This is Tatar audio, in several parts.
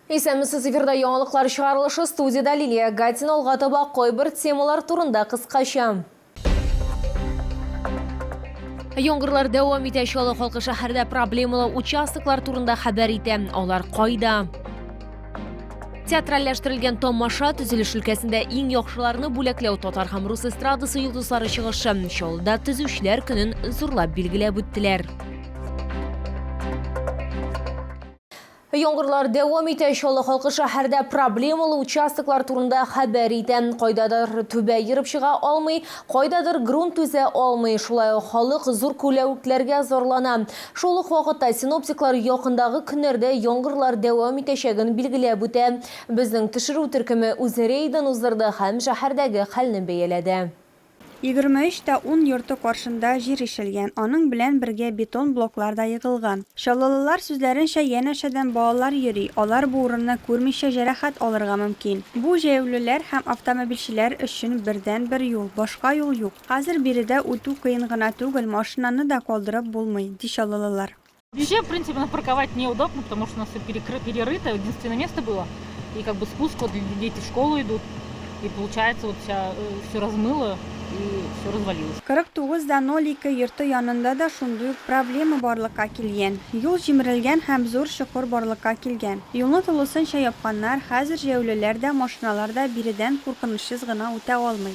Исәнмесез, эфирда яңалыклар чыгарылышы, студиядә Лилия Гатина, алга таба кайбер темалар турында кыскача. Яңгырлар дәвам итә, Чаллы халкы шәһәрдә проблемалы участоклар турында хәбәр итә. Алар кайда? Театральләштерелгән тамаша төзелеш өлкәсендә иң яхшыларны бүләкләү татар һәм рус эстрадасы йолдызлары чыгышы Чаллыда төзүчеләр көнен зурлап билгеләп үттеләр. Яңгырлар дәвам итә, Чаллы халкы шәһәрдә проблемалы участоклар турында хәбәр итә. Кайдадыр түбә ерып чыга алмый, кайдадыр грунт түзә алмый. Шулай ук халык зур күләвекләргә зарлана. Шул ук вакытта синоптиклар якындагы көннәрдә яңгырлар дәвам итәчәген билгеләп үтә. Безнең төшерү төркеме үз рейдын уздырды һәм шәһәрдәге хәлне бәяләде. Егерме өч тә ун йорты каршында җир ишелгән, аның белән бергә бетон блоклар да егылган. Чаллылылар сүзләренчә, янәшәдән балалар йөри, алар бу урынны күрмичә җәрәхәт алырга мөмкин. Бу, җәяүлеләр һәм автомобильчеләр өчен бердәнбер юл, башка юл юк. Хәзер биредә үтү кыен гына түгел, машинаны да калдырып булмый, ди чаллылылар. Вообще, в принципе, на парковать неудобно, потому что у нас все перекры... перерыто, единственное место было. И как бы спуск, вот дети в школу идут, и получается вот вся, э, все размыло, и все развалилось. 49.02 йорты янында да шундый ук проблема барлыкка килгән. Юл җимерелгән һәм зур чокыр барлыкка килгән. Юлны тулысынча япканнар, хәзер җәяүлеләр дә, машиналар да биредән куркынычсыз гына үтә алмый.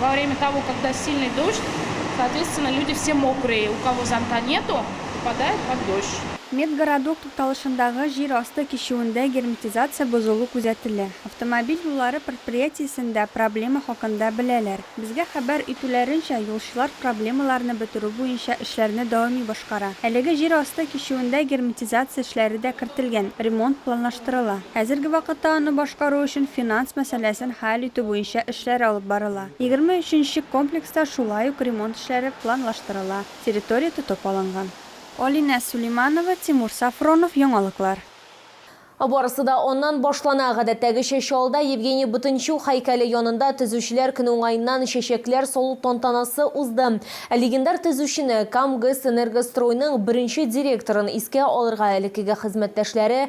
Во время того, когда сильный дождь, соответственно, люди все мокрые, у кого зонта нету, попадают под дождь. Медгородок тукталышындагы җир асты кичүендә герметизация бозылу күзәтелә. Автомобиль юллары предприятиесендә проблема хакында беләләр. Безгә хәбәр итүләренчә, юлчылар проблемаларны бетерү буенча эшләрне даими башкара. Әлеге җир асты кичүендә герметизация эшләре дә кертелгән, ремонт планлаштырыла. Хәзерге вакытта аны башкару өчен финанс мәсьәләсен хәл итү буенча эшләр алып барыла. Егерме өченче комплекста шулай ук ремонт эшләре планлаштырыла, территория тотып алынган. Алинә Сулейманова, Тимур Сафронов, Яңалыклар. Барысы да аннан башлана, гадәттәгечә Чаллыда Евгений Бутынчук һәйкәле янында Төзүчеләр көне уңаеннан чәчәкләр салу тантанасы узды. Ә легендар төзүчене, Кам ГЭС-Энергостройның беренче директорын искә алырга элеккеге хезмәттәшләре,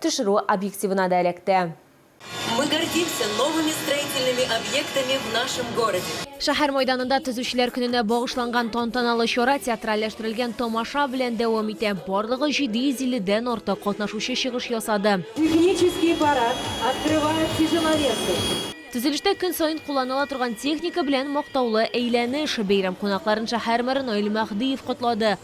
Төшерү объективына да эләкте. Мы гордимся новыми строительными объектами в нашем городе. Шәһәр мәйданында Төзүчеләр көненә багышланган тантаналы чара театральләштерелгән тамаша белән дәвам итә. Барлыгы 750 дән артык катнашучы чыгыш ясады. Технический парад открывает тяжеловесы. Төзелештә көн саен кулланыла торган техника белән мактаулы әйләнеш. Бәйрәм кунакларын шәһәр мэры Наил Мәһдиев котлады.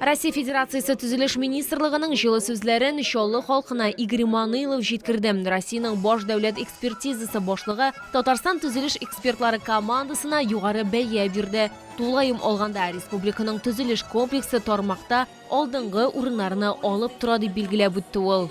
Россия Федерациясе Төзелеш министрлыгының җылы сүзләрен Чаллы халкына Игорь Манылов җиткерде. Россиянең баш дәүләт экспертизасы башлыгы Татарстан төзелеш экспертлары командасына югары бәя бирде. Тулаем алганда, республиканың төзелеш комплексы тармакта алдынгы урыннарны алып тора, дип билгеләп үтте ул.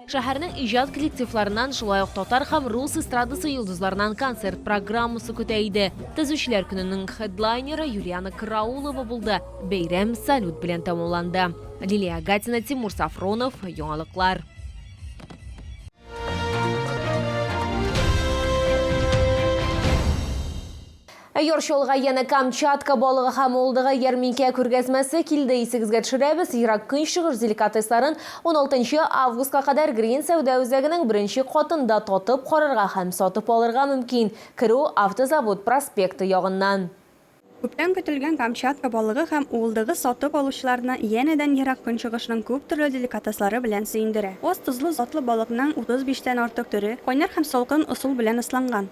Шәһәрнең иҗат коллективларыннан, шулай ук татар һәм рус эстрадасы йолдызларыннан концерт программасы көтә иде. Төзүчеләр көненең хедлайнеры Юлиана Караулова булды. Бәйрәм салют белән тәмамланды. Лилия Агатина, Тимур Сафронов, Яңалыклар. Ә яр чалга янә Камчатка балыгы һәм олдыгы ярминкә күргәзмәсе килде, исегезгә төшерәбез, Ерак Көнчыгыш деликатесларын уналтынчы августка кадәр Грин сәүдә үзәгенең беренче катында татып карарга һәм сатып алырга мөмкин, керү Автозавод проспекты ягыннан. Күптән көтелгән Камчатка балыгы һәм уылдыгы сатып алучыларны янәдән Ерак Көнчыгышның күп төрле деликатеслары белән сөендерә. Аз тозлы затлы балыкның 35 тән артык төре, кайнар һәм салкын ысул белән ысланган.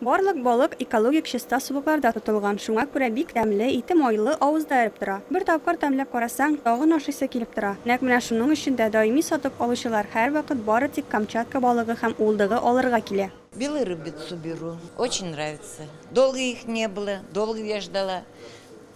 Барлык балык экологик чиста сулыкларда тотылган, шуңа күрә бик тәмле, ите майлы, авызда эреп тора. Бер тапкыр тәмләп карасаң, тагын ашыйсы килеп тора. Нәкъ менә шуның өчен дә даими сатып алучылар һәрвакыт бары тик Камчатка балыгы һәм улдыгы алырга килә. Белую рыбицу беру, очень нравится, долго их не было, долго я ждала.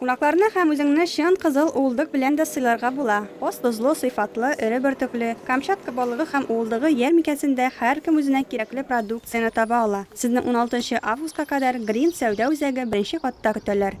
Кунакларны һәм үзеңне чын кызыл уылдык белән дә сыйларга була. Остозлы, сыйфатлы, эре бөртекле, Камчатка балыгы һәм уылдыгы ярминкәсендә һәркем үзенә кирәкле продукцияне таба ала. Сезне уналтынчы августка кадәр Грин сәүдә үзәге беренче катта көтәләр.